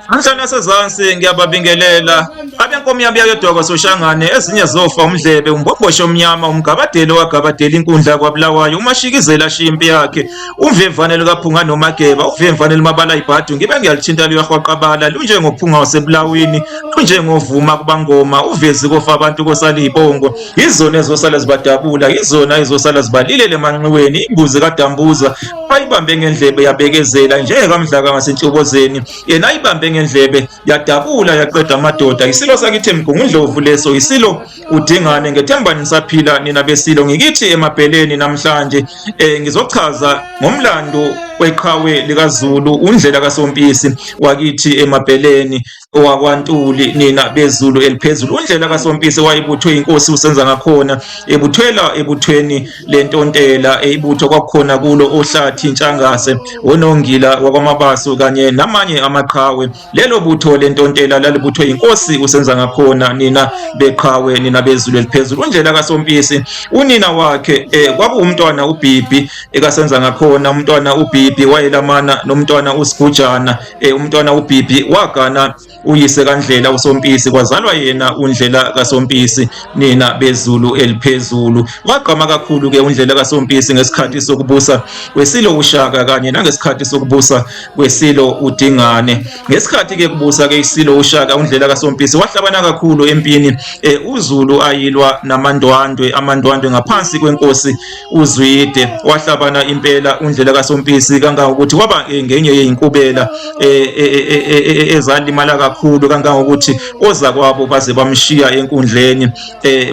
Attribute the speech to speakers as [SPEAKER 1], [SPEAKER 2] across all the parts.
[SPEAKER 1] Anjani asezansi ngiyababingelela abenkomo yami yayodwakwa soshangane ezinye zofa umdlebe umbhombosho omnyama umgabadeli owagabadela inkundla kwabulawayo umashikizela ashiya impi yakhe umvemvane likaphunga nomageba uvemvane limabala ibhadu ngibe ngiyalithinta luyahwaqabala lunjengophunga wasebulawini lunjengovuma kubangoma uvezi kofa abantu kosalibongo yizona ezosala zibadabula yizona ezosala zibalilele emanxiweni imbuzi kadambuza ayibambe ngendlebe yabekezela njengekamdlaka ngasentshobozeni yena ayibambe ngendlebe yadabula yaqeda amadoda isilo sakithi mgungundlovu leso isilo udingane ngethemba nisaphila nina besilo ngikithi emabheleni namhlanje um ngizochaza ngomlando weqhawe likazulu undlela kasompisi wakithi emabheleni wakwaNtuli nina bezulu eliphezulu undlela kaSompisi wayebuthwe inkosi usenza ngakhona ebuthwela ebuthweni lentontela eyibutho kwakukhona kulo ohlathi intshangase onongila wakwamabasu kanye namanye amaqhawe lelo butho lentontela lalibuthwe inkosi usenza ngakhona nina beqhawe nina bezulu eliphezulu undlela kaSompisi unina wakhe eh, kwakuwumntwana uBhibhi ekasenza ngakhona umntwana uBhibhi wayelamana nomntwana uSigujana Eh, umntwana uBibi wagana uyise kaNdlela uSompisi kwazalwa yena uNdlela kaSompisi nina bezulu eliphezulu wagqama kakhulu ke uNdlela kaSompisi ngesikhathi sokubusa kwesilo uShaka kanye nangesikhathi sokubusa kwesilo uDingane ngesikhathi ke kubusa ke isilo uShaka uNdlela kaSompisi wahlabana kakhulu empini eh, uZulu ayilwa namandwandwe amandwandwe ngaphansi kwenkosi uzwide wahlabana impela undlela kasompisi kangangokuthi waba eh, ngenye yeyinkubela eh, eh, ezalimala kakhulu kangangokuthi ozakwabo baze bamshiya enkundleni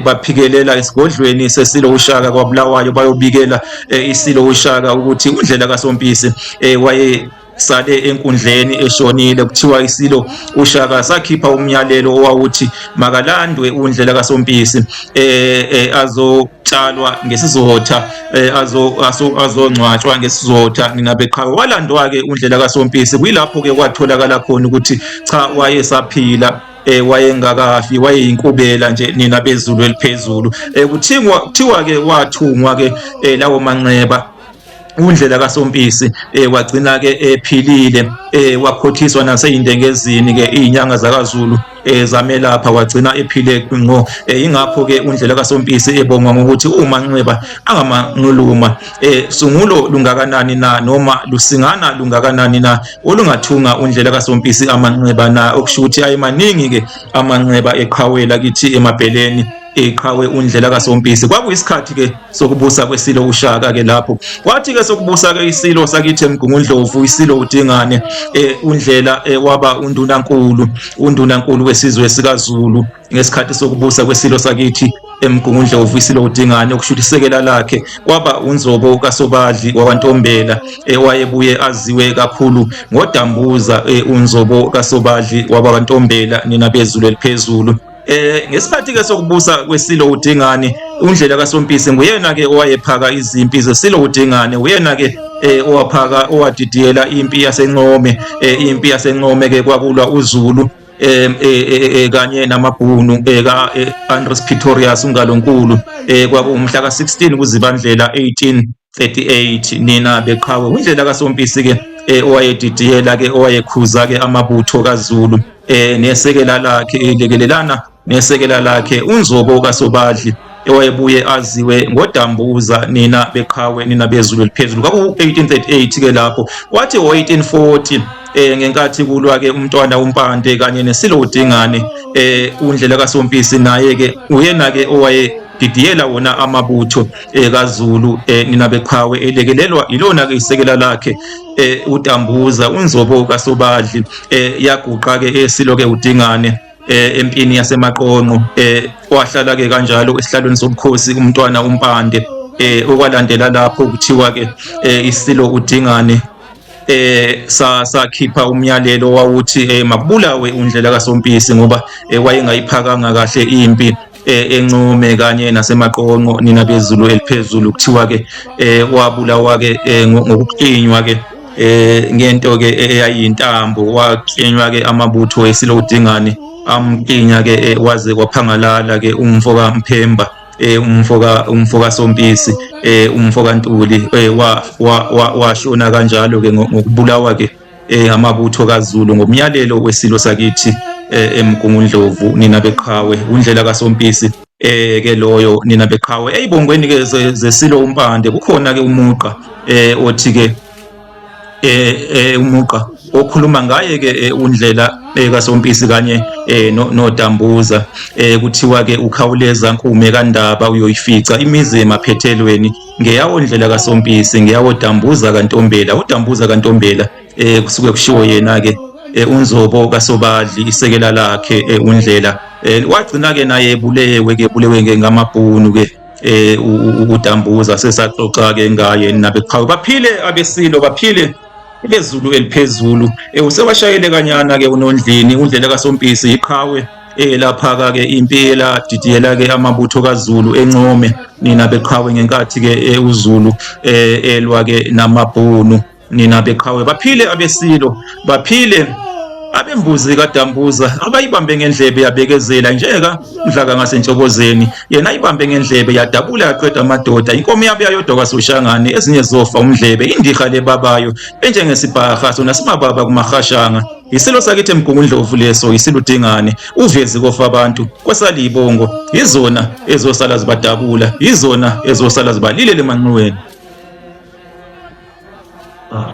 [SPEAKER 1] baphikelela esigodlweni sesilo ushaka kwabulawayo bayobikela isilo ushaka ukuthi undlela kasompisi waye sale enkundleni eshonile kuthiwa isilo ushaka sakhipha umyalelo owawuthi makalandwe undlela kasompisi eh, eh azo tshalwa ngesizotha eh, azongcwatshwa ngesizotha nginabeqhawe walandwa-ke undlela kasompisi kuyilapho-ke kwatholakala khona ukuthi cha wayesaphila eh wayengakafi wayeyinkubela nje nina bezulu eliphezulu eh kuthiwa kuthiwa ke wathungwa ke eh, lawo manxeba undlela kasompisi eh wagcina ke ephilile eh wakhothiswa naseyindengezini ke izinyanga zakazulu eh zamelapha wagcina ephile ngo eh, ingakho ke undlela kasompisi ebonga ngokuthi uma nxeba angamanquluma eh sungulo lungakanani na noma lusingana lungakanani na olungathunga undlela kasompisi amanxeba na okushuthi ayimaningi ke amanxeba eqhawela kithi emabheleni iqhawe undlela kasompisi kwakuyisikhathi ke sokubusa kwesilo ushaka ke lapho kwathi ke sokubusa ke isilo sakithi emgungundlovu isilo udingane eh, undlela eh, waba undunankulu undunankulu wesizwe sikaZulu ngesikhathi sokubusa kwesilo sakithi emgungundla uvuyisile udingane okushuthi isekela lakhe kwaba unzobo kasobadli wakwantombela ewayebuye aziwe kakhulu ngodambuza e, unzobo kasobadli wakwantombela nina bezulu eliphezulu Eh ngesikhathi ke sokubusa kwesilo uDingane undlela kaSompisi nguyena ke owayephaka izimpi zesilo uDingane uyena ke eh owaphaka owadidiyela impi yaseNcome eh impi yaseNcome ke kwakulwa uZulu eh, eh, eh, eh kanye namabhunu eh, ka eh, Andres Pretorius ungalonkulu eh kwakuwumhla ka16 kuzibandlela 18 38 nina beqhawe indlela kasompisi ke eh, owayedidiyela ke owayekhuza ke amabutho kaZulu eh nesekela lakhe elekelelana nesekela lakhe unzobo kasobadli ewayebuye aziwe ngodambuza nina beqhawe nina bezulu eliphezulu kwaku 1838 ke lapho wathi 1840 eh ngenkathi kulwa ke umntwana uMpande kanye nesilo uDingane eh undlela kaSompisi naye ke uyena ke owaye didiyela wona amabutho eh, kaZulu eh, nina beqhawe elekelelwa ilona ke isekela lakhe eh, uDambuza unzobo kaSobadli yaguqa ke esilo ke uDingane eh empini yasemaqonqo eh wahlala ke kanjalo esihlalweni sobukhosi umntwana umpande eh okwalandela lapho kuthiwa ke eh, isilo udingane eh sakhipha umyalelo wawuthi eh, makubulawe undlela kasompisi ngoba eh, wayengayiphakanga kahle impi eh, encome kanye nasemaqonqo nina bezulu eliphezulu kuthiwa ke eh, wabulawa ke eh, ngokuqinywa ke eh ngento ke eyayintambo waqinywa ke amabutho esilo udingane amqinya ke eh, waze kwaphangalala ke umfo kaMphemba eh umfo ka umfo kaSompisi eh umfo kaNtuli eh wa washona kanjalo ke ngokubulawa ke eh, amabutho kaZulu ngomyalelo wesilo sakithi eh, eMgungundlovu nina beqhawe undlela kaSompisi eh ke loyo nina beqhawe eyibongweni ke zesilo umpande kukhona ke umuqa eh othi ke eh, eh umuqa okhuluma ngaye ke eh, undlela eh, kaSompisi kanye eh, noDambuza kuthiwa ke ukhawuleza nkume kaNdaba uyoyifica imizi emaphethelweni ngeyawo ndlela kasompisi ngeyawo dambuza kantombela udambuza kantombela eh kusuke kushiwo yena ke eh, unzobo kasobadli isekela lakhe eh, undlela eh, wagcina ke naye ebulewe ke bulewe ngamabhunu ke eh udambuza sesaxoxa ke ngaye nabeqhawe baphile abesilo baphile bezulu eliphezulu eh, usewashayele kanyana ke unondlini undlela kasompisi iqhawe elaphaka-ke impi eladidiyela-ke amabutho kazulu encome nina beqhawe ngenkathi-ke eh, uzulu um elwa-ke namabhunu nina beqhawe baphile abesilo baphile abembuzi kadambuza abayibambe ngendlebe yabekezela njeka mdlaka ngasentshokozeni yena ayibambe ngendlebe yadabula yaqeda amadoda inkomo yabe yayodwa kwasoshangane ezinye zofa umdlebe indiha lebabayo enjengesibhaha sona simababa kumahashanga Yisilo sakithi eMgungundlovu leso yisiludingane uvezi kofa abantu kwasaliyibongo yizona ezosala zibadabula yizona ezosala zibalile lemanxiweni ah.